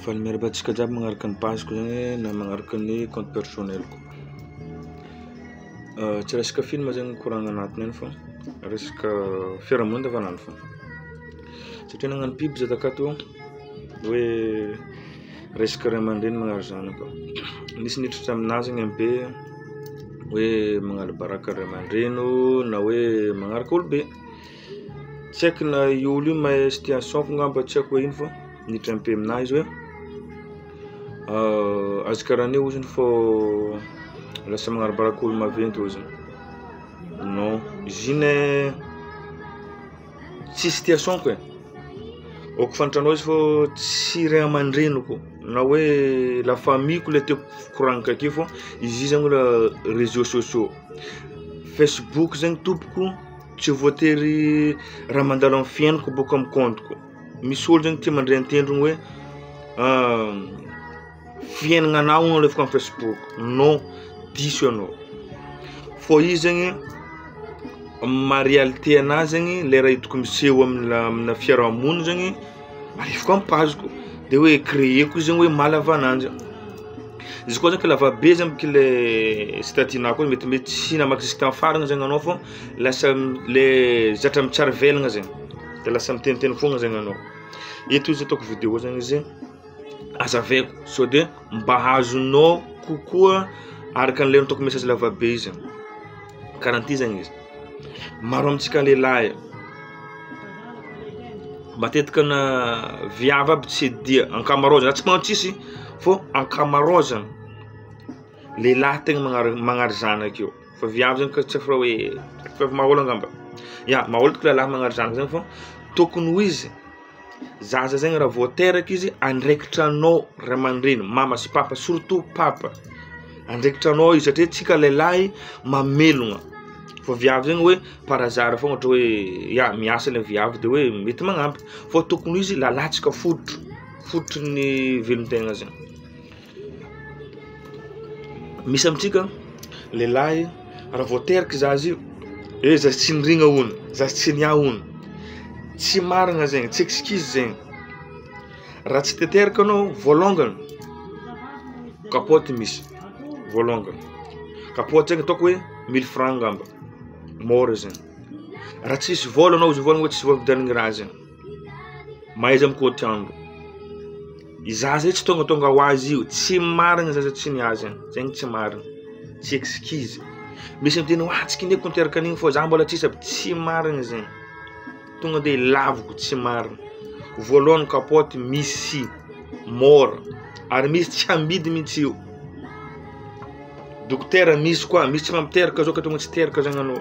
Fa ny miarahaba antsika jiaby magnaraka ny page-ko zany hoe na magnaraka ny compte personnel-ko. Tsy resaka film zany no koragna agnatiny any fa resaka fiarahamonina andavan'andro fôgna. Satria nagnano pub za takato hoe resaka ray aman-dreny magnary zanaka. Nisy niditra taminahy zagny amy be hoe magnala baraka ray aman-dreny ô na hoe magnaraka olo-be. Tsy haiko na io olo io mahay situation ko ngamba tsy haiko hoe ino fa ny hita ampe aminahy izy hoe azy karaha an'io ozy fô lasa magnarabaraka olo maventy ozy non izy io ne tsy situation ko e ok fa ny tragnona izy fô tsy ray aman-dreniko na hoe la famille ko le tiako koragnina takeo fô izy io zany mbola reseau sociaux facebook zegny tompoko. Tsy voatery raha mandalo amin'ny fiainako bôka amin'ny compte-ko. Misy olo zany tia mandre an-tendrony hoe fiainagna anao no alefako amin'ny facebook. Non, diso ianao. Fô izy zegny maha réalité anahy zegny le raha hitako miseho amina amina fiarahamonina zegny alefako amin'ny page-ko de hoe créer-ko izy zegny hoe maha lava ananjy. Izy koa zany ka lavabe zany k'le statut-nao koa mety mety tsy namaky jusk'amy farany zany anao fô. Lasa le zatra mitsara velogna zegny de lasa miteniteny fogna zegny anao. Eto izy ataoko video zegny izy azavaiko sao de mba azonao kokoa araka an'le ataoko message lavabe izy karaha an'ity zegny izy maro amintsika lehilahy matetika na viavy aby tsy dia ankamaroazana tsy manao tsisy fô ankamaroazana lehilahy tegna magnary magnary zanaka io. Fa viavy zany tsy afra hoe fa mahaolo angamba. Ya, mahaolo tokoa lahy magnary zanaka zany fa tokony ho izy zaza zegny raha vao teraka izy andraikitra anao ray aman-dreny, mama sy papa surtout papa. Andraikitra anao izy satria antsika lehilahy mamelogna fa viavy zegny hoe par hasard fôgna ohatra hoe ya miasa le viavy de hoe mety magnampy fa tokony ho izy lalatsaka fototro fototry ny velon-tegna zegny. Misy amintsika lehilahy raha vao teraka i zaza io hoe zaza tsy niringa hono, zaza tsy niahy hono. Tsy marina zegny, tsy excuse zegny. Raha tsy te teraka anao voalongany kapoty misy, voalongany. Kapoty zegny ataoko hoe mille francs angamba, môra zegny. Raha tsisy vôla anao izy mivoagna hoe tsisy vôla ividianagna raha zegny. Mahaiza mikoatra andro. Izaho zay tsy tongatonga ho azy io, tsy marigny zay tsy ny azy any, zay no tsy marigny, tsy excuses, misy miteny hoe ah tsy kinihiko niteraka an'igny fô zah mbola tsisa, tsy marigny zegny, tonga de laviko tsy marigny, voalohany kapoty misy môra, ary misy tsy amidy mintsy io, dokotera misy koa, misy tsy mampiteraka zao ka tonga tsy teraka zagny anao.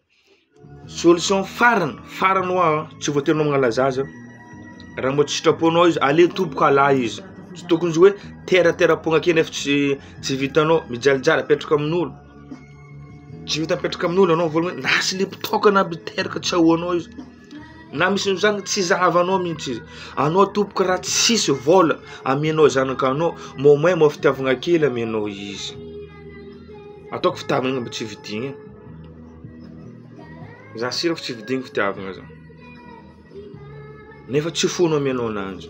Solution farany farany hoa tsy voatery anao magnala zaza raha mbola tsy sitraponao izy aleo tompoko hala izy tsy tokony hoe tera tera am-poagna akeo nefa tsy tsy vitanao mijalijaly apetraka amin'olo tsy vita apetraka amin'olo anao vola hoe na silipo tôkana aby teraka tsy ahoanao izy. na misy noho izany tsy zahavanao mihitsy izy anao tompoko raha tsisy vola amenao zanaka anao mao may mao fitiavagna kely amenao izy ataoko fitiavagna mba tsy vidigny e za sira fa tsy vidigny fitiavagna za nefa tsy foana amenao ananjy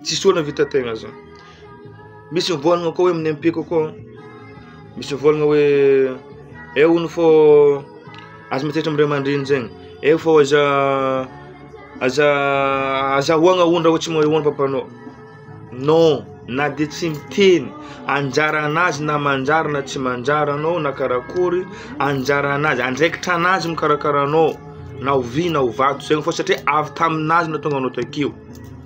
Tsisy olona vita tegna zany. Misy mivôlagna koa hoe amin'ny MP kokoa, misy mivôlagna hoe eh hono fô aza miantsetra amin'ny ray aman-dreny zegny, eh fô aza aza azahoagna hono raha hoe tsy mahay hono papanao, non na de tsy miteny anjaranazy na manjary na tsy manjary anao na karakory anjaranazy, andraikitra anazy mikarakara anao na ho vy na ho vato zegny fô satria avy taminazy no nahatonga anao takeo.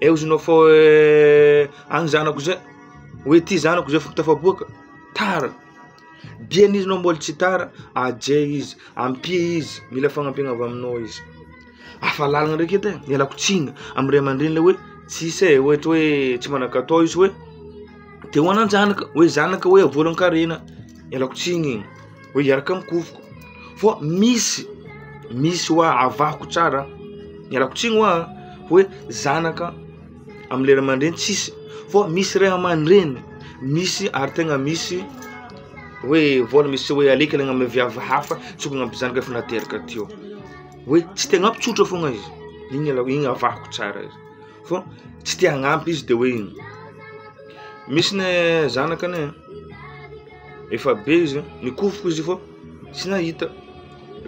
Eo izy nofo eh, agny zanako zay, hoe ty zanako zay foko tafaboaka, tara, dia n'izy nao mbola tsy tara, aje izy, ampia izy, mila fagnampiana avy aminao izy. Afa lalagna ndraiky edy e, ialako tsiny amin'ny ray aman-dreny le hoe tsisy e, ohatra hoe tsy manan-katao izy hoe te ho anan-janaka, hoe zanaka hoe voalan-karena, ialako tsiny e. Hoe hiaraka amin'ny kovoko fa misy misy hoa avahoko tsara ialako tsiny hoa hoe zanaka amin'ny ray aman-dreny tsisy fa misy ray aman-dreny misy ary tegna misy hoe vôla misy hoe alaiky lay amy viavy hafa tsy ho ampy zanaka efa nateraka teo hoe tsy tegna ampy tsotra foagna izy igny aloha igny avahoko tsara izy fa tsy te hagnampy izy de hoe misy ne zanaka ne. efa be izy a, mikofoka izy vao tsy nahita,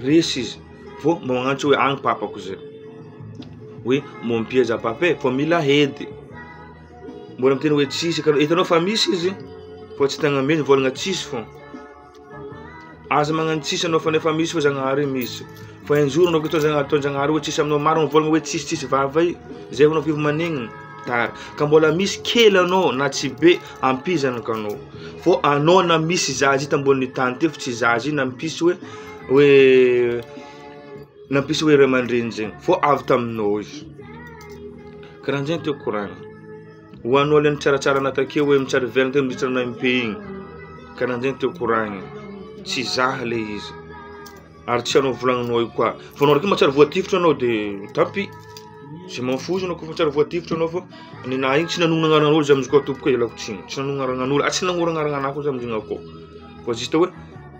resy izy vao magnantso hoe agny papako zay, hoe mon pied à pape fa mila hedy, mbola miteny hoe tsisy ka, hitanao fa misy izy fa tsy tegna misy, mivôlagna tsisy fô, aza magnano tsisy anao fa nefa misy fa Zagnahary misy, fa un jour anao koa ataon'Zagna- ataon'Zagnahary hoe tsisy aminao, maro mivôlagna hoe tsisy tsisy vava e, zay vao anao kivy manegnina, tara, ka mbola misy kely anao na tsy be. Ampizano ka anao. Fô anao na misy zaza ita ambonin'ny tany teo fa tsy zaza io nampisy hoe hoe nampisy hoe ray aman-dreny zegny fô avy taminao izy. Karahan'jegny tiako koragna. Ho anao le nitsaratsara anà takeo hoe mitsara velona teo mandritra anà im-pe igny, karahan'jegny tiako koragna. Tsy zah le izy. Ary tsy anao volagnanao io koa. Vao anao raiky mahatsiaro voatifitra anao de tapy. Je m'en fous anao kôfa tsary voatifitra anao fô ny anahy igny tsy nanogno agnaranaolo za amizikoa tompoko e ialako tsiny tsy nanogno agnaranaolo ary tsy nanoro agnarana anahy koa za amizigny akao fa juste hoe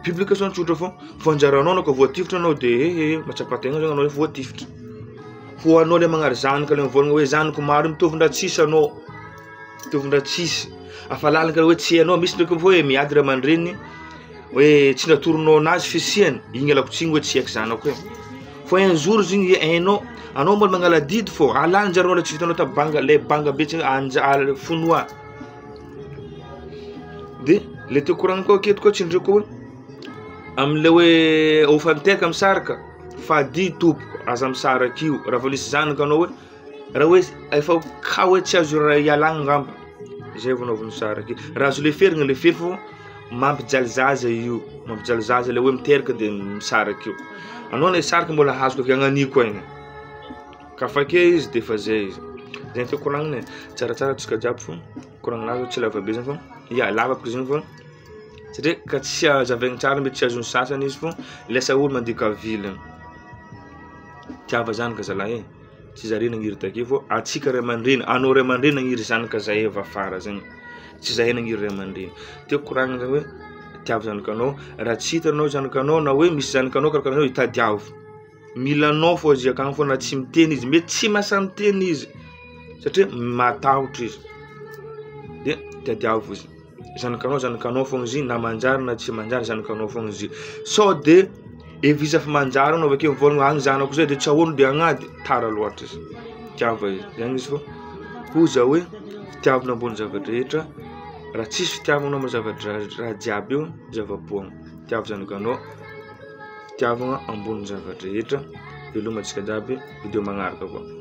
publication tsotra fô fa anjaranao anao koa voatifitra anao de ehe mahatsapa tegna zany anao hoe voatifitra ho anao le magnary zanaka le mivôlagna hoe zanako maro mitovy ndra tsisy anao mitovy ndra tsisy afa lalaka hoe tsy anao misy ndraiky koa hoe miady ray aman-dreniny Hoe tsy natoronao anazy fisiany igny alako tsigny hoe tsy eky zanako e fo un jour izy igny hainao anao mbola magnala adidy fô alan'jareo le tsy vitanao ta banga le banga be tsy anja- al- fonoa de le teo koragniny koa aketo koa tsindrio koa am'le hoe hofanteka misaraka fa adidy tompoko aza misaraka io raha vao nisy zanaka anao hoe Raha hoe efa cas hoe tsy azo ialagna angamba zay vao anaovana zara ake, raha azo leferina lefery fô mampijaly zaza io, mampijaly zaza le hoe miteraka de misaraka io, anao le saraka mbola azoko avy agnaniko aigny, ka afa ake izy de efa zay izy, zay ny tiako koragnina e, tsaratsara antsika jiaby fô koragnina azy tsy lava be zany fô ya lava boka izy io fô satria ka tsy hazavaigny tsara mety tsy azon'ny sasany izy fô lasa olo mandika vilany, tiava zany ka zalahy e. Tsy za re nagniry take fô antsika ray aman-dreny, anao ray aman-dreny nagniry zanaka zahay avy afara zegny, tsy zahay nagniry ray aman-dreny. Tiako koragnina zany hoe tiavo zanakanao, raha tsy hita anao zanakanao na hoe misy zanakanao karakaraha anao tadiavo, mila anao fao izy akagny fao na tsy miteny izy, mety tsy mahasahy miteny izy satria matahotra izy, de tadiavo izy. Zanakanao zanakanao fogna izy na manjary na tsy manjary zanakanao fogna izy sao de efa izy efa manjary anao avakeo mivôlagna any zanako zay de tsy ahoagna de agnady tara loatra izy tiava izy zany izy fô koa za hoe fitiavagna ambony zava-drehetra raha tsisy fitiavagna amy zava-draha- raha jiaby eo zava-poagna tiavo zanakanao fitiavagna ambony zava-drehetra velomantsika jiaby video magnaraka koa.